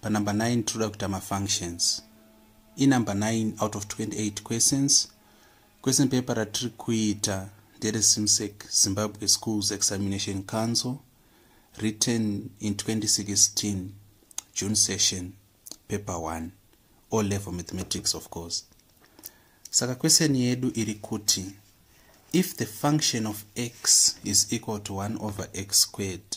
panumber 9 tinoda kuita mafunctions inumber 9 out of 28 questions question paper ratiri kuita ndere simsec zimbabwe schools examination council written in 2016 june session paper 1 o level mathematics of course saka question yedu iri kuti if the function of x is equal to 1 over x squared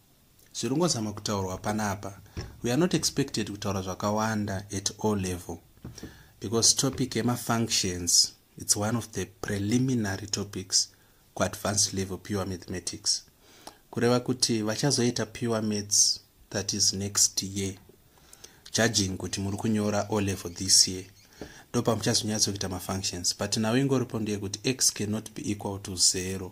Zviri kungozama kutaurwa panapa. We are not expected kutaura zvakawanda at all level because topic yemafunctions it's one of the preliminary topics kuadvanced level pure mathematics kureva kuti vachazoita pure maths that is next year judging kuti muri kunyora o level this year ndopamuchazonyatsokuita mafunctions but now ingoripo ndeyekuti x cannot be equal to zero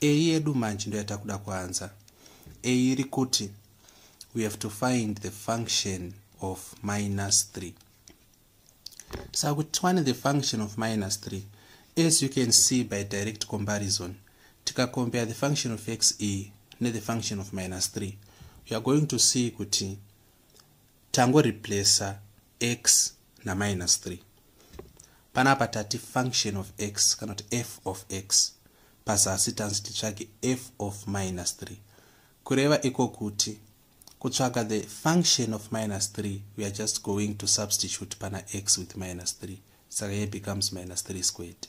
Eyi yedu manje ndoyatakuda kuanza. Eyi iri kuti we have to find the function of minus 3. Saka kuti tiwane the function of minus 3 as you can see by direct comparison tikacompare the function of x e nethe function of minus 3 we are going to see kuti tangoreplacer x naminus 3 panapa tati function of x kana kuti f of x pazasi tanzi titsvage f of minus 3 kureva iko kuti kutsvaga the function of minus 3 we are just going to substitute pana x with minus 3 saka ye becomes minus 3 squared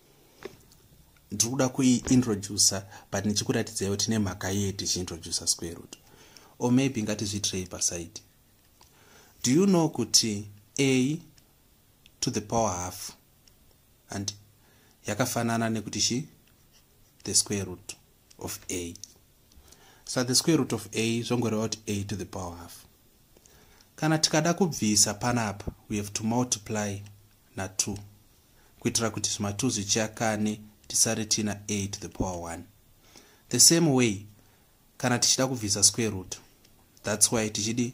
ndiri kuda kuiintroducer but ndichikuratidzai kuti nemhaka yei tichiintroducer square root or maybe ngatizviitirei paside do you know kuti a to the power half and yakafanana nekuti chi the square root of a so the square root of a zvongoreva kuti a to the power half kana tikada kubvisa panapa we have to multiply na2 kuitira kuti zvimatu zvichakane tisare tiina a to the power 1 the same way kana tichida kubvisa square root thats why tichidi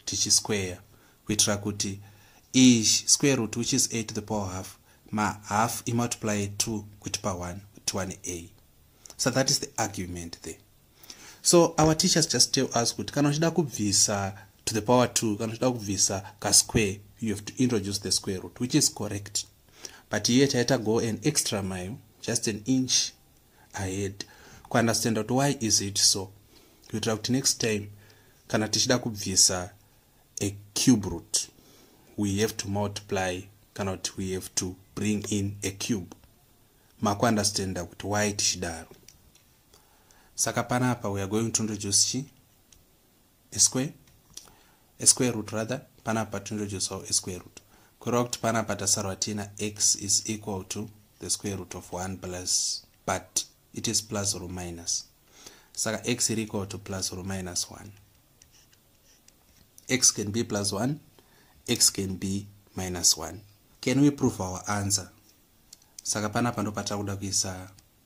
tichisquare kuitira kuti ish square root which is a to the power half mahalf imultiply 2 kutipa 1 kutiwane a so that is the argument there so our teachers just tell us kuti kana uchida kubvisa to the power two kana uchida kubvisa kasquare you have to introduce the square root which is correct but here taita go an extra mile just an inch ahead kuunderstand kuti why is it so kuitira kuti next time kana tichida kubvisa a cube root we have to multiply kana kuti we have to bring in a cube makuunderstanda kuti why tichidaro saka panapa we are going to introduce chi a square a square root rather panapa to introduce how a square root kureva kuti panapa tasarwa tiina x is equal to the square root of 1 plus but it is plus or minus saka x is equal to plus or minus 1 x can be plus 1 x can be minus 1 can we prove our answer saka panapa ndopatava kuda kuisa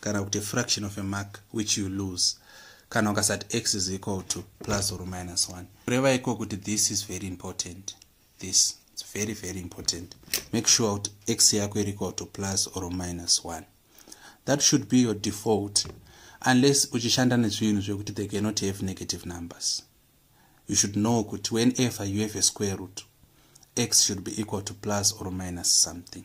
kana kuti fraction of a mark which you lose kana ukasati x is equal to plus or minus 1 kureva iko kuti this is very important this is very very important make sure kuti x yako iri equal to plus or minus 1 that should be your default unless uchishanda nezvinhu zvekuti they cannot have negative numbers you should know kuti whenever you have a square root x should be equal to plus or minus something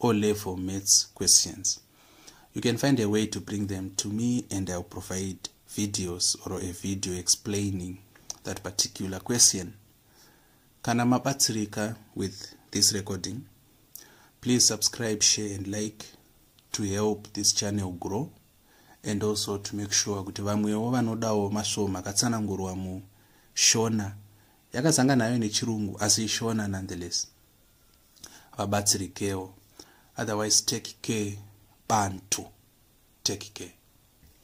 O level maths questions. You can find a way to bring them to me and I'll provide videos or a video explaining that particular question. Kana mabatsirika with this recording, please subscribe, share and like to help this channel grow and also to make sure kuti vamwewo vanodawo masvoo makatsanangurwa mushona yakazanga nayo nechirungu asi ishona nonetheless vabatsirikewo otherwise take care bantu take care